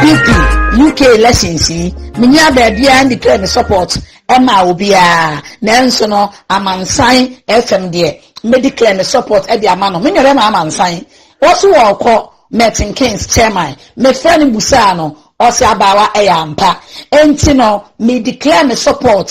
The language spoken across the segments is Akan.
npp uk elections yi me nua baabiara ne declare ne support ɛma obiara nanso no amansan fm deɛ me declare ne support ɛde ama no me nua bɛma amansan wɔso wɔ ɔkɔ merton kings chairman mefrɛ no busaa no ɔsɛ abaawa ɛyɛ ampa nti no me declare me support.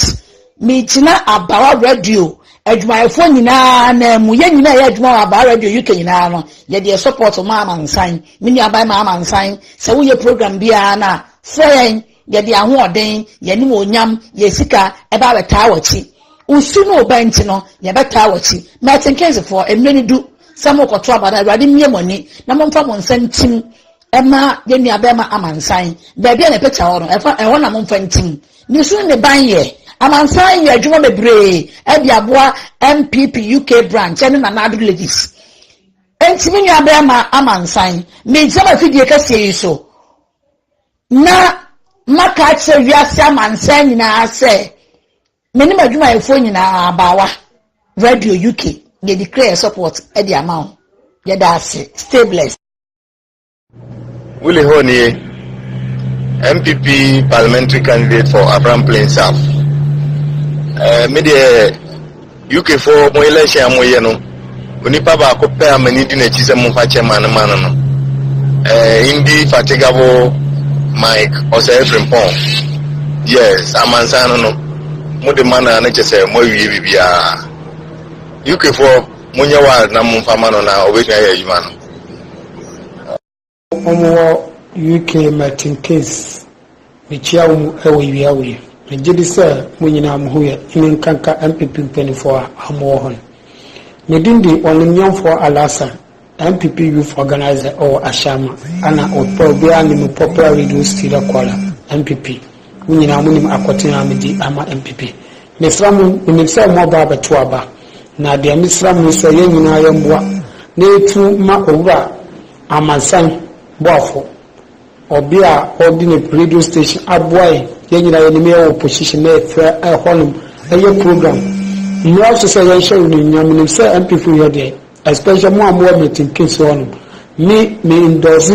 Megyina Abawa Radio adwumayɛfoɔ nyinaa nan mu, yɛn nyinaa ɛyɛ adwuma wɔ Abawa Radio UK nyinaa no, yɛdeɛ support ma amansan, me nuaban ma amansan, sɛ woyɛ program biara no a, frɛ yɛn, yɛde ahoɔden, yɛn animuonyam, yɛn sika ɛba abɛtaa wakyi. Wo su ne wo bɛ nti no, yɛbɛtaa wakyi. Milton Keynesfoɔ, mmerɛ no du sɛ morekɔto aba no, Awurade mmue mo ani na momfa mo nsa ntim Ɛma yɛn nuabarima Amansan, baabi a na ɛpɛ kyɛw no, ɛfa ɛhɔ na momfa ntim. Ne su ne ne ban yɛ. Amansan yɛ adwuma bebree de aboa NPP UK branch ne Nana Addo Ladies. Enti me nuabarima Amansan, mengyina m'afidie kɛseɛ yi so na maka akyerɛ wiase amansan nyinaa sɛ me ne m'adwumayɛfoɔ nyinaa abaawa radio UK yɛde kura yɛ support de ama wo yɛda ase stay blessed Willie Ho nie, NPP parliamentary candidate for Afram Plain South. Eh, me deɛ UK for mo election a moyɛ no, onipa baako pɛ a m'ani di n'akyi sɛ momfa kyɛ ma no ma no no. Eh, Indi Fatigabo Mike Osei Frimpong. Yes, amansan no no, mo de ma no a ne kyɛ sɛ moawie biribiara. UK for monyɛ wild na momfa ma no na ɔbɛtumi ayɛ adwuma no. wɔn wɔ UK Merton Keynes mekyia wɔn wɔ wia wei megye di sɛ mo nyinaa mo ho yɛ ne nkanka MPP mpanimfoɔ a wɔn wɔ hɔ no ne din di wɔn nyɛmfoɔ Alasa MPP youth organizer wɔ Ashama ana wɔpɛ obiara ne mu popular radio studio caller MPP Mo nyinaa monim akoten a medi ama NPP. Mesra mo, menim sɛ mo ɔba abɛto aba, na deɛ mesra mo ne sɛ yɛn nyinaa yɛmmoa na yɛtu ma Owura Amansan Boafo, ɔbea a ɔde ne radio station aboa yɛn, yɛn nyinaa yɛnim yɛwɔ opposition na yɛfrɛ ɛhɔnom yɛ program. Mmra so sɛ yɛnhyɛ wo animuonyam, menim sɛ NPP yɛ deɛ, especially mo a mowɔ Milton Keynes hɔnom. Me, me endorse.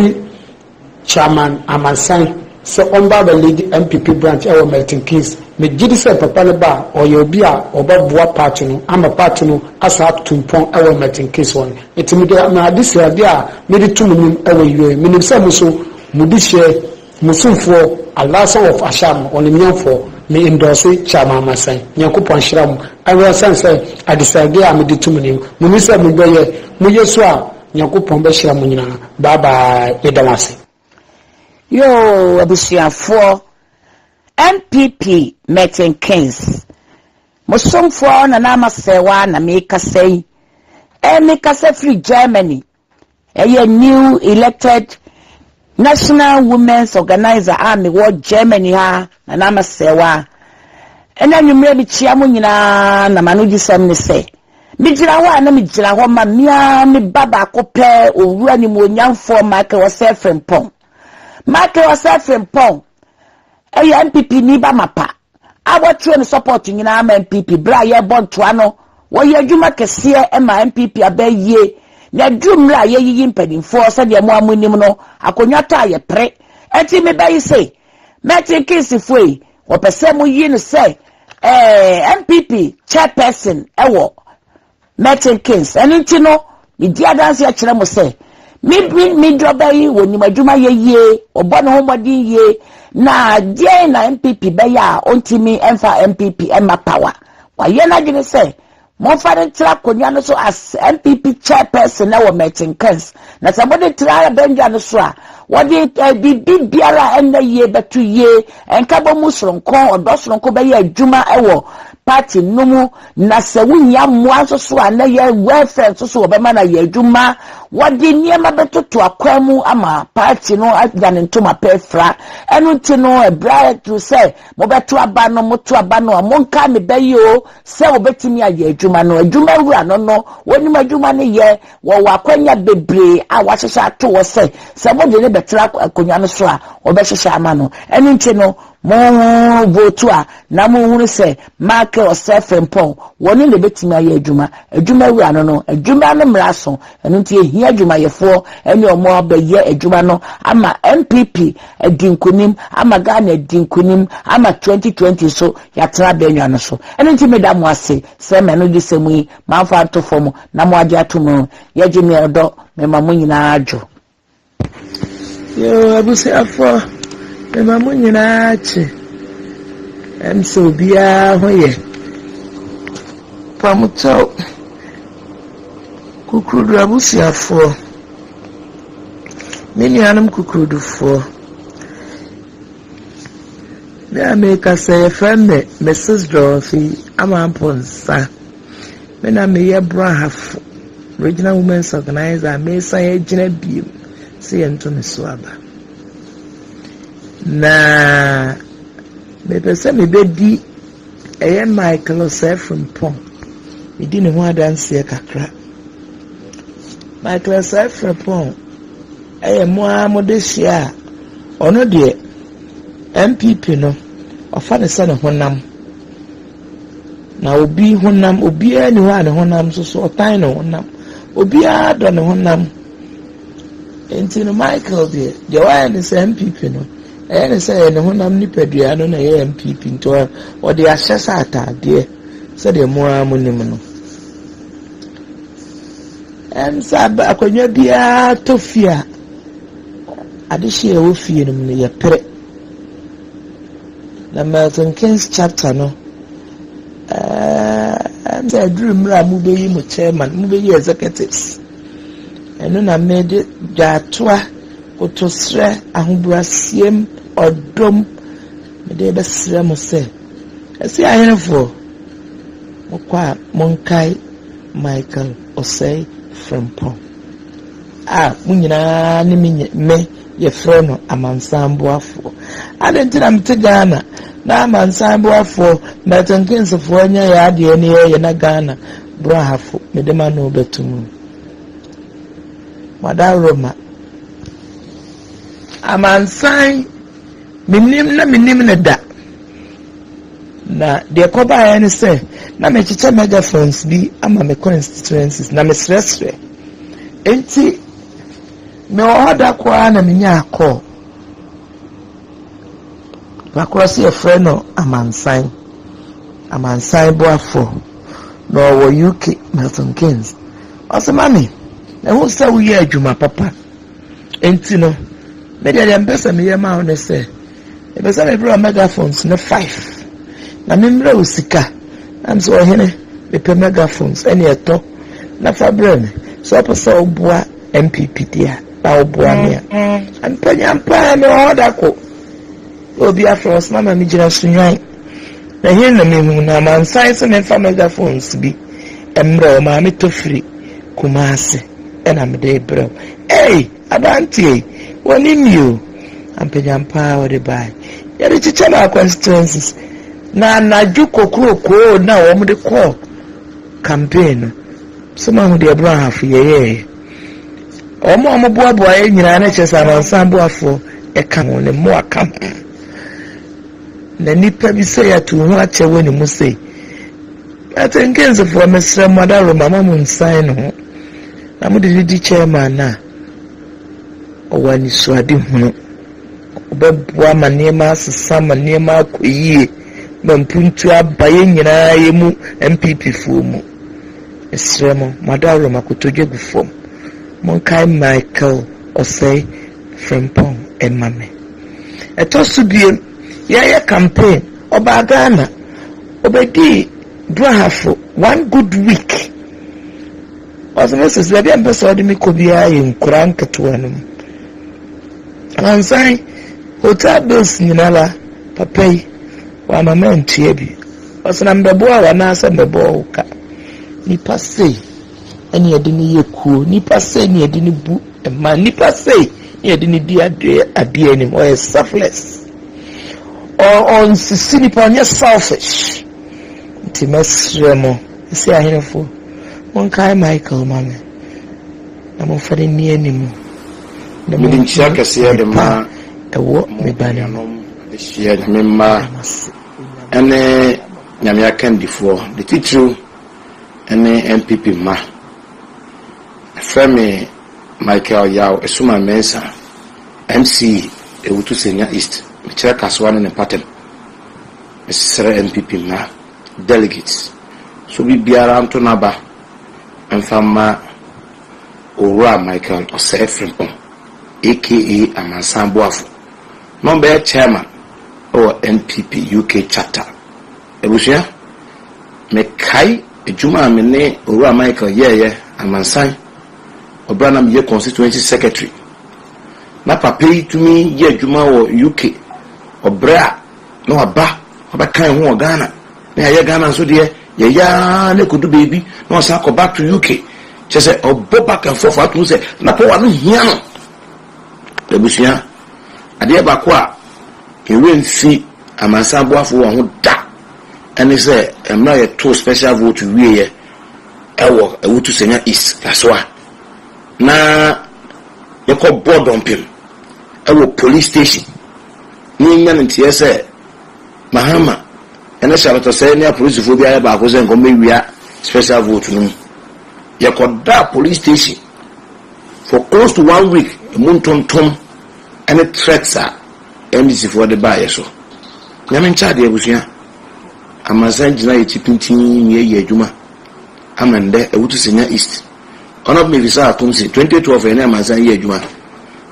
Chairman Amansan sɛ ɔmba aba lead NPP branch ɛwɔ Milton Keynes. Me gyedi sɛ papa no ba a, ɔyɛ obi a ɔba boa party no ama party no asan atutu mpɔn ɛwɔ Milton Keynes hɔ no. Nti me de me ade si ade a mede to mo nim ɛwɔ UA. Me nim sɛ mo nso mo de hyɛ mo somfoɔ Alasan of Asham no, ɔnimnyamfoɔ. Me endorse Chairman Amansan. Nyankopɔn nhyira mo. Ɛwɔ sane sɛ ade si ade a mede to mo nim. Mo nim sɛ mo bɛ yɛ, mo yɛ so a, Nyankopɔn bɛhyira mo nyinaa bye bye yɛda mo ase. Yoo abusuafoɔ NPP Merton Kings mo somfoɔ Nana Ama Serwaa na mekasa yi ɛɛ mekasa firi Germany ɛyɛ new elected National Women's Organiser a mewɔ Germany ha na na masɛe wo ara. Ɛna anwumerɛ mekyia mo nyinaa na m'ano gye sɛm ne sɛ, megyina hɔ a na megyina hɔ ma me ara me ba baako pɛ, Owura Nimuonyamfoɔ Michael Osei Frimpong. Michael Osei Frimpong yɛ NPPni ba mapa a wɔatwerɛ no support nyinaa ma NPP berɛ a yɛrebɔ ntoa no wɔyɛ adwuma kɛseɛ ma NPP aba ayie na aduru mmerɛ a yɛreyiyi mpanimfoɔ sɛdeɛ mo a monim no akonnwa tɔ a yɛpere ɛnti mebɛyi se mɛte keesifoɔ yi wɔpɛ sɛ moyi no sɛ ɛɛ NPP chairperson ɛwɔ Merton Keynes. Ɛno nti no, medi adanse akyerɛ mo sɛ, me Bryn Midro ba yi, ɔnim adwuma yɛ yie, ɔbɔ ne ho mmɔden yie, na deɛn na NPP bɛyɛ a ɔntumi mfa NPP mma power? Wayɛ n'adwene sɛ, momfa no ntra akonnwa no so as NPP chairperson wɔ Merton Keynes, na sɛ mode tra abandwa no so a, wɔde biribi biara a ɛnyɛ yie bɛto yie, nkabɔmu sononko, ɔdɔ sononko bɛyɛ adwuma wɔ party no mu. Na sɛ wohia mmoa nso so a, na yɛn wɛlfɛɛ nso so wɔbɛma no ayɛ adwuma. Wɔde nneɛma bɛtoto akwan mu ama paati no anya ne ntoma pa afira. Ɛno nti no, ɛberɛ a ɛduru sɛ mobɛto aba no, moto aba no a, monka ne bɛ yi o, sɛ wɔbɛtumi ayɛ adwuma no. Adwuma wura no no, wɔnim adwuma no yɛ. Wɔwɔ akwanya bebree a wɔahyehyɛ ato hɔ sɛ, sɛ mode no bɛtra akonnwa no so a, wɔbɛhyehyɛ ama no. Ɛno nti no, Monhonhon no bootu a, na monhunu sɛ Maake ɔsɛ Frimpong, wɔne na ɛbɛtumi ayɛ adwuma. Adwuma awura no no, adwuma no mmara so, ɛno nti ɛhia adwumayɛfoɔ ne wɔn a wɔbɛyɛ adwuma no ama NPP adi nkunim, ama Ghana adi nkunim, ama 2020 nso yɛatena abɛnwa no so. Ɛno nti meda mo ase sɛ m'anodisɛm yi mamfa anto fam na moagye ato mu no, yɛgye me ɔdɔ, mema mo nyinaa adwo. Yoo abusuafoɔ mema mo nyinaa kye ɛm sɛ obiara ho yɛ pamokyɛw kukurudu abusuafoɔ me nuanom kukurudufoɔ me a mekasa yɛfrɛ me Mrs. Dorothy Amanponsa Me na meyɛ Brɔahafo Regional Women's Organiser a meresan agyina bio sɛ yɛnto me so aba. Na mepɛ sɛ mebɛdi ɛyɛ Michael Osei Frimpong medi ne ho adanseɛ kakra. Michael Osei Frimpong ɛyɛ mo ara mode hyia a ɔno deɛ NPP no ɔfa ne sɛ ne honam. Na obi honam, obiara ni hɔ a ne honam nso so ɔtan ne honam. Obiara dɔ ne honam. Nti no Michael deɛ, deɛ wayɛ ne sɛ MPP no, ɛyɛ ne sɛ ɛyɛ ne honam nipadua no na ɛyɛ MPP. Nti ɔde ahyɛ sɛ ataadeɛ sɛdeɛ mo ara mo nim no. Ɛm sɛ akonnwa biara tɔ fie a, adehyeɛ a ɛwɔ fie no mu no yɛpere. Na Milton Keynes chapter no ɛɛɛ na ɛduru mmerɛ a mobɛyi mo chairman, mobɛyi executives. Ɛno na mede dwaatoa, kotosrɛ, ahobrɛasiem, ɔdom mede rebɛsrɛ mo sɛ, ɛse ahenefoɔ, mokɔ a monkae Michael Osei Frimpong. A mo nyinaa ne me nyɛ me yɛfrɛ no amansan boafoɔ adɛn nti na mete Ghana na amansan boafoɔ Milton Keynes foɔ nyɛ yɛ adeɛ ne yɛ yɛ na Ghana brahafo mede ma no bɛto mu mada roma amansan menim na menim ne da na deɛ kɔbaeɛ ne sɛ na mekyekyɛ megaphones bi ama me constituencies na mesrɛsrɛ Enti mewɔ hɔ da koro ara na menyaa kɔɔ. Na korɔ so yɛfrɛ no Amansan. Amansan boafoɔ. Na ɔwɔ UK, Milton Keynes. Ɔse, Mami, mahu sɛ woyɛ adwuma papa. Enti no, me deɛ deɛ mepɛ sɛ meyɛ ma wo ne sɛ, Mepɛ sɛ mebra megaphones no five na memmerɛ wo sika na mesɛ ɔhene mepɛ megaphones ɛne ɛtɔ na fa berɛ me sɛ ɔpɛ sɛ ɔboa MPP deɛ na ɔboa me a mpanyam paa me ɔhɔ da ko obi afrɛ wɔ soma ma megyina sunwan na hene na mehu na mansan sɛ memfa megaphones bi mmerɛ wɔ maa metɔ firi Kumasi ɛna mede brɛ wo ei Aberanteɛ yi wɔnim me o. Ampanyampa a wɔde bae. Yɛde kyekyɛ maa constituencies. Na anadwo kokrokoo na wɔde kɔ campaign no. So mahu deɛ Brɔhafo yɛyɛɛyɛ. Wɔn a wɔboaboa yɛn nyinaa na kyerɛ sɛ amansan boafoɔ ɛka ho, ne mmoa ka ho. Na nipa bi sɛ yɛato ho akyɛ wɔ ne mu sei. Atenkensefoɔ mesrɛ mo adaworoma ma mo nsan ne ho. Na mode no di chairman no a, ɔwɔ anisoadehunu. Ɔbɛboa ma nneɛma asesa, ma nneɛma akɔ yie, ma mpuntuo aba yɛn nyinaa yɛn mu NPP foɔ mu. Mesrɛ mo, mo adaworo mo akotodwe gu fam. Monkae Michael Osei Frimpong mma me. Ɛtɔ so biom, yɛreyɛ campaign, ɔbaa Ghana, ɔbɛdii Brahafo one good week. Ɔse mese sɛ deɛ mpɛ sɛ ɔde me kɔ biara yɛ nkura nketewa no mu. Ansan hotel bills nyina la papa yi wama me antua bi. Ɔse na mebɛboa wo anaa sɛ mebɛbɔ wo ka. Nipa sei ɛne yɛde no yɛ kuo. Nipa sei ne yɛde no bu mma. Nipa sei ne yɛde no di adeɛ anim. Ɔyɛ selfless. Ɔnsisi nipa ɔnyɛ selfish. Nti mɛsrɛ mo. Ese aherefoɔ, monkae Michael ma me, na momfa no nni anim, na Mede nhyira monto kɛseɛ de ade pa ma a ɛwɔ mo me ba no mu. nuanom adehyeɛ Nyame mma Meda mo ase, Onyame. ne Nyame akandifoɔ, de titiriw ne NPP mma. Ɛfrɛ me Michael Yaw Asuman Mensah, MC Ewutu Senya East, mekyerɛ Kasoa ne ne mpɔtam. Mesrɛ NPP mma delegates. So obibiara nto n'aba mfa mma Owura Michael Osei Frimpong aka Amansan Boafo na ɔbɛyɛ Chairman wɔ NPP UK Chapter. Abusua, mekae adwuma a me ne Owura Michael yɛeɛ amansan wɔ berɛ a na meyɛ Constituency Secretary. Na papa yi tumi yɛ adwuma wɔ UK wɔ berɛ a na waba Ɔbɛka yɛn ho wɔ Ghana na yɛayɛ Ghana nso deɛ yɛyɛ ara na ɛkɔdu baabi na ɔsan akɔ back to UK. Kyerɛ sɛ ɔbɔ back and forth ato sɛ na pɔwa no hia no. Abusua, adeɛ baako a ɛwerɛ mfi amansan boafo wɔ ho da ɛne sɛ mmerɛ a yɛtoo special vote wieɛ ɛwɔ Awutu Sanya East Kasoa na yɛkɔ bɔɔ dɔmpem ɛwɔ police station na yɛanya no nteɛ sɛ Mahama ne Charlotte Osei ne apolisifoɔ bi ayɛ baako sɛ nka wɔmmɛwia special vote no mu. Yɛkɔdaa police station for close to one week, ɛmu ntontom ne threats a MDCfoɔ de baa yɛ so. Nyame nkyɛ adeɛ abusua. Amansan gyina yɛ akyi pintinn ne yɛyɛ adwuma ama ndɛ Awutu Senya East. Ɔnɔb Mefisah Akum se 2012 yɛne Amansan yɛ adwuma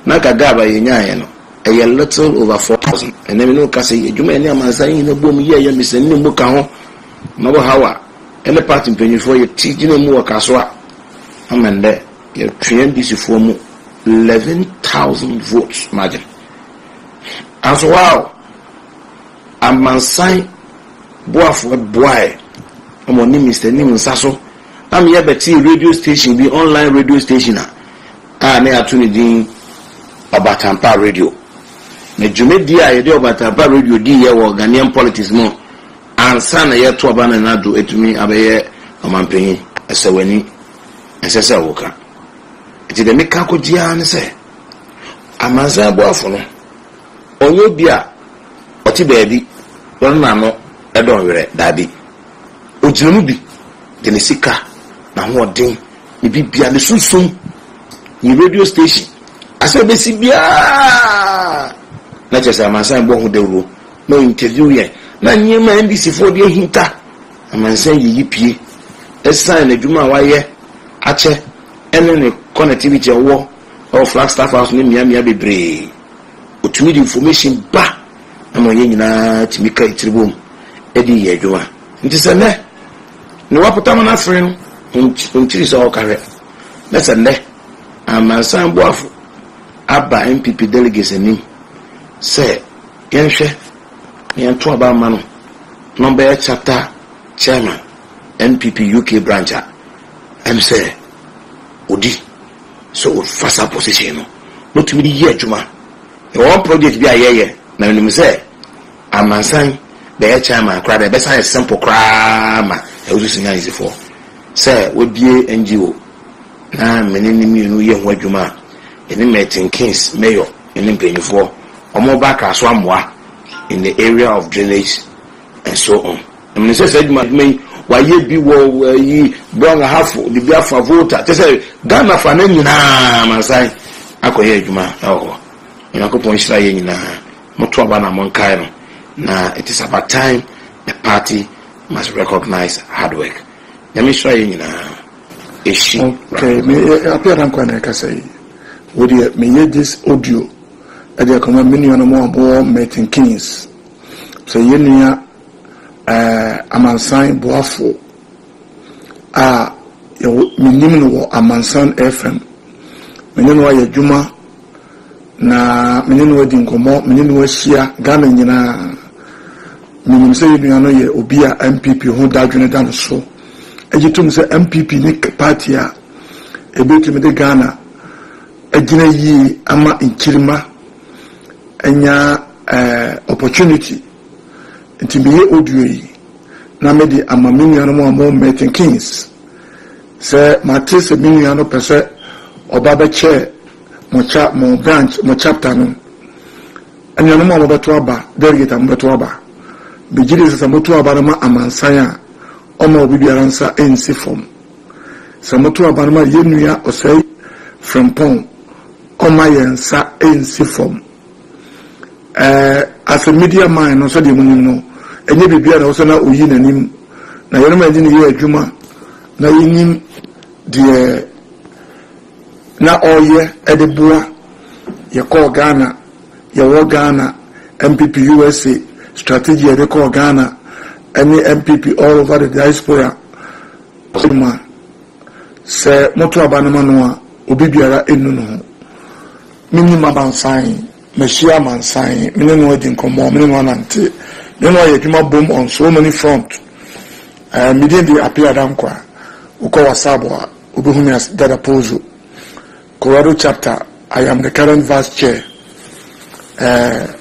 na nka gap a yɛnyaeɛ no Ɛyɛ little over four thousand. Ɛnnɛ me ne wo kasa yi, adwuma a yɛne amansan nyina boom yɛɛ yɛ mesani ne mu ka ho ma wɔ haw a ɛne party mpanyinfoɔ yɛ ti gyina mu wɔ kaso a ama nnɛ yɛtwe NDC foɔ mu eleven thousand votes margin. Nanso wow! Amansan boafoɔ boaɛ ma ɔne Mister Nim nsa so ama yɛbɛtee radio station bi, online radio station a, a na yɛato ne din Ɔbatampa Radio. Na dwumadi a yɛde Ɔbatampa Radio diiɛ wɔ Ghanaian politics mu ansa na yɛto aba Nana Addo atumi abɛyɛ Ɔmanpanyin, ɛsɛ w'ani, ɛnsɛ sɛ woka. Nti deɛ meka kɔgye ara ne sɛ, Amansan Boafo no, ɔnyɛ obi a ɔte baabi na ɔno n'ano dɔ nwerɛ, daabi. Ogyina mu bi de ne sika, n'ahoɔden, ne biribiara, ne sunsum, ne radio station, asɛm a ɛbɛsi biara, na kyerɛ sɛ amansan rebɔ ho dawuro, na ɔinterview yɛn, na nneɛma a NDC foɔ de ahinta amansan yiyi pue, ɛsiane n'adwuma a wayɛ akyɛ ne ne connectivity a ɔwɔ wɔ Flagstaff House ne mmeammea bebree. Ɔtumi de information ba. ama yɛn nyinaa tumi ka etiri bom de yɛ adwuma. Nti sɛ nnɛ ne wapotam no afere no, ɔntiri sɛ ɔka hwɛ na sɛ nnɛ amansan boafo aba NPP delegates anim sɛ yɛnhwɛ na yɛnto aba mma no na ɔbɛyɛ chapter chairman NPP UK branch a, ɛm sɛ ɔdi sɛ ɔfa saa position no na ɔtumi de yɛ adwuma. Yɛwɔ one project bi a yɛyɛ na menim sɛ amansan bɛyɛ chairman koraa dɛ ɛbɛsan ayɛ simple koraa ma Awusu Sinyansifoɔ sɛ wabue NGO na me ne no mmienu yɛ ho adwuma a yɛne Milton Keynes Mayor ne mpanyinfoɔ wɔn reba Accra so amoa in the area of drainage Nso ɔn nim ne sɛ saa adwuma adwuma yi wayɛ bi wɔ ayi Boang Ahafo de bi afa Volta kyɛ sɛ Ghana fa no nyinaa mansan akɔyɛ adwuma ɛwɔ hɔ Onyankopɔn nhyira yɛ nyinaa mo to aba na mo nkae no na it is about time the party must recognize hard work Nyame nhyira yɛ nyinaa ɛhyi okay me apia na nkwa na ɛkasa yi wo deɛ meyɛ this audio ɛde akɔma me nuanom a wɔwɔ Milton Keynes Sɛ yɛn nua amansan boafo a yɛwɔ, minim no wɔ Amansan FM, me ne no ayɛ adwuma na me ne no adi nkɔmmɔ, me ne no ahyia Ghana nyinaa. Minim sɛ yɛn nua no yɛ obi a NPP ho dadwene da no so. Egye tom sɛ NPP ne paati a ebetumi de Ghana agyina yie ama nkyirimma. anya eh opportunity nti meyɛ audio yi na mede ama me nuanom a wɔwɔ Milton Keynes. Sɛ mate sɛ me nua no pɛ sɛ ɔba bɛkyɛ mo cha mo branch mo chapter no anuanom a mobɛto aba delegate a mobɛto aba megye di sɛ sɛ moto aba no ma amansan a ɔma obi biara nsa nsi fam sɛ moto aba no ma yɛn nua ɔsɛe Frimpong Ɔmma yɛn nsa nsi fam. Ɛɛ, asɛ Media man no, sɛdeɛ monim no, ɛnyɛ biribiara na ɛwɔ sɛ na ɔyi n'anim, na yɛnom a yɛde no yɛ adwuma na yɛnim deɛ na ɔreyɛ de boa. Yɛkɔɔ Ghana, yɛwɔ Ghana, MPP USA strategy a yɛde kɔɔ Ghana ne MPP all over the diaspora, ma sɛ moto aba no ma no a, Obi biara nnu ne ho. Minim amansan, mahyia amansan, me ne no adi nkɔmmɔ, me ne no anante, me ne no ayɛ adwuma bom on so many front. Ɛɛ, me din de Appiah Dankwah. Wokɔ WhatsApp a, wobɛhu me as Dada Pozo. Colorado chapter, I am the current vice chair. Ɛɛ.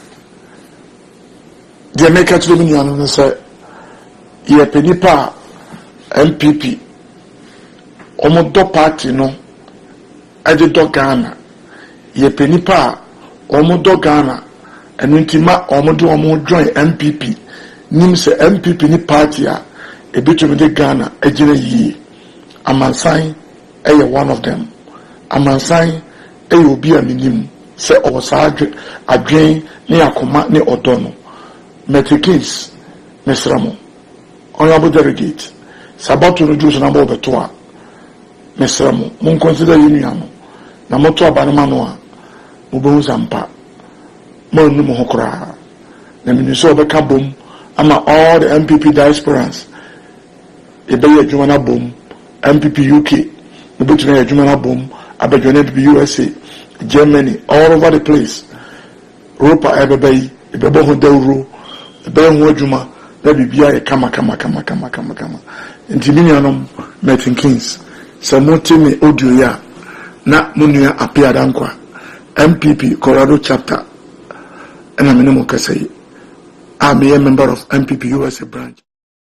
Deɛ mereka kyerɛ me nuanom ne sɛ, yɛpɛ nnipa a NPP, wɔdɔ party no de dɔ Ghana. Yɛpɛ nnipa a wɔdɔ Ghana, ɛno nti ma wɔde wɔn ho join NPP, nim sɛ NPP ne party a ɛbɛtumi de Ghana agyina yie. Amansan yɛ one of them. Amansan yɛ obi a minim sɛ ɔwɔ saa adwene ne akoma ne ɔdɔ no. Mertie Keynes, Mesrɛ mo, honourable delegate, sɛ abatoɔ no duru so na mo rebɛto a, mesrɛ mo, mo nconsider yɛn nua no, na moto aba no ma no a, mobɛhu sɛ ampa, moannu mo ho koraa. Na menim sɛ ɔbɛka bom ama all the NPP diasporans. Yɛbɛyɛ adwuma no abom, MPP UK, mobɛtumi ayɛ adwuma no abom abɛjoine MPP usa, Germany, all over the place. Rope a ɛbɛba yi, yɛbɛbɔ ho dawuro, yɛbɛyɛ ho adwuma na biribiara ayɛ kama kama kama kama kama kama. Nti me nuanom Merton Keynes, sɛ mote me audio yi a, na mo nua Appiah Danquah, MPP Colorado Chapter na me ne mo rekasa yi, a meyɛ member of MPP usa branch.